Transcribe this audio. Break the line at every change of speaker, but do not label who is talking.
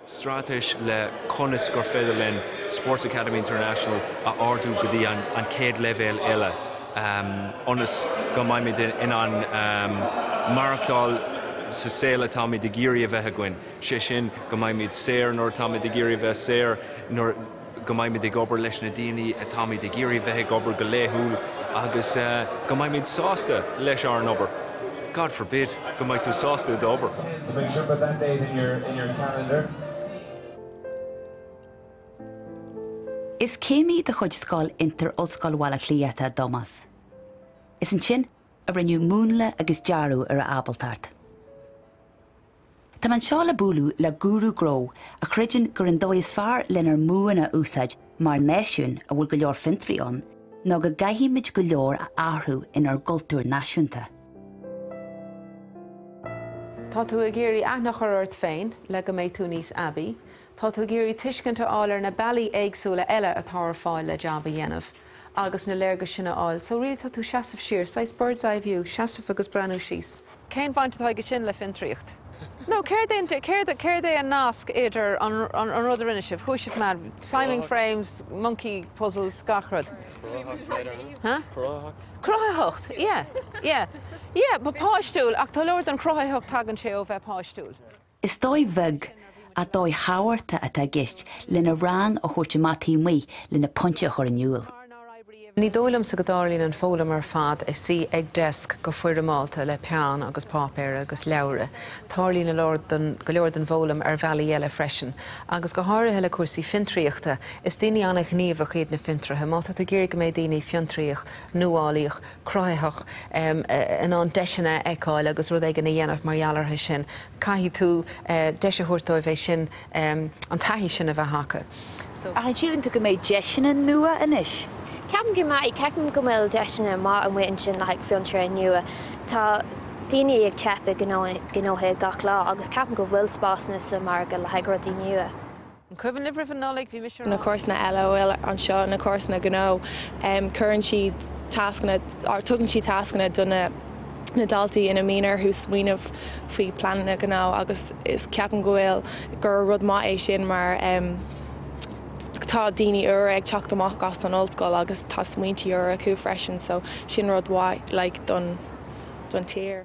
straitéis le conas gur féidir linn Sports Academy International a ardú go dtí an chéad leibhéal eile ionas go mbeimid in ann maireachtáil sa saol atáimid ag iarraidh a bheith againn, sé sin go mbeimid saor nuair atáimid ag iarraidh a bheith saor, nuair. go mbeimid ag obair leis na daoine atáimid ag iarraidh a bheith ag obair go laethúil agus go mbeimid sásta leis ár n-obair. God forbid, go mbeidh tú sásta i d'obair.
Is céimí de chuid Scoil Fhiontair Ollscoil Bhaile Átha Cliath atá i dTomás. Is ansin a rinneadh múnla agus dearadh ar a ábaltacht. Táim anseo le bualadh le gúrú gnó a chreideann gurb an dóigh is fearr lenár mbuanna a úsáid mar náisiún a bhfuil go leor fiontraí ann ná go gcaithfimid go leor a athrú inár gcultúr
náisiúnta. Tá tú ag iarraidh aithne a chur ort féin le go mbeidh tú níos aibí. Tá tú ag iarraidh tuiscint a fháil ar na bealaí éagsúla eile atá ar fáil le jab a dhéanamh agus na léargais sin a fháil. So really tá tú ag seasamh siar, saghas bird's eye view, seasamh agus breathnú síos. Cén bhaint atá aige sin le fiontraíocht? Nó céard é an, céard é an nasc idir an, an, an rud a rinne sibh, chuaigh sibh mad, climbing frames, monkey puzzles, gach rud. Cruthaitheacht later, no? Huh? Cruthaitheacht. Cruthaitheacht, yeah, yeah. Yeah, bhí páistiúil ach tá leor den chruthaitheacht, tagann sé ó bheith páistiúil. Is
dóigh bheag ach dóigh thábhachtach atá i gceist lena rang a thabhairt amach taobh amuigh lena pointe a chur in iúl. Ní dóigh
liomsa go dtarlaíonn an foghlaim ar fad i do shuí ag deasc go foirmeálta le peann agus páipéar agus leabhra. Tarlaíonn a lár den, go leor den bhfoghlaim ar bhealaí eile freisin. Agus go háirithe le cúrsaí fiontraíochta. Is daoine an-ghníomhach iad na fiontraithe. Má tá tú ag iarraidh go mbeidh daoine fiontraíoch, nuálaíoch, cruthaitheach in ann deiseanna a fheiceáil agus rud éigin a dhéanamh mar gheall orthu sin. Caithfidh tú deis a thabhairt dóibh é sin, an taithí sin a bheith acu. Ach an síleann
tú go mbeidh deiseanna nua anois? Ceapaim go
mbeidh. Ceapaim go bhfuil deiseanna maithe amuigh ansin le haghaidh fiontraithe nua. Tá daoine ag teip i ngnóithe gach lá agus ceapaim go bhfuil spásanna sa mhargadh le haghaidh rudaí nua. An cuimhin
libh roimhe Nollaig bhí mise na ann. na cúrsanna eile a
bhfuil anseo, na cúrsanna gnó, cuireann siad tascanna, tugann siad tascanna do na na daltaí ina mbíonn orthu smaoineamh faoi pleananna gnó agus is ceapaim go bhfuil gur rud maith é sin mar tá daoine úra ag teacht amach as an ollscoil agus tá smaointe úra acu freisin so sin rud mhaith like don don tír.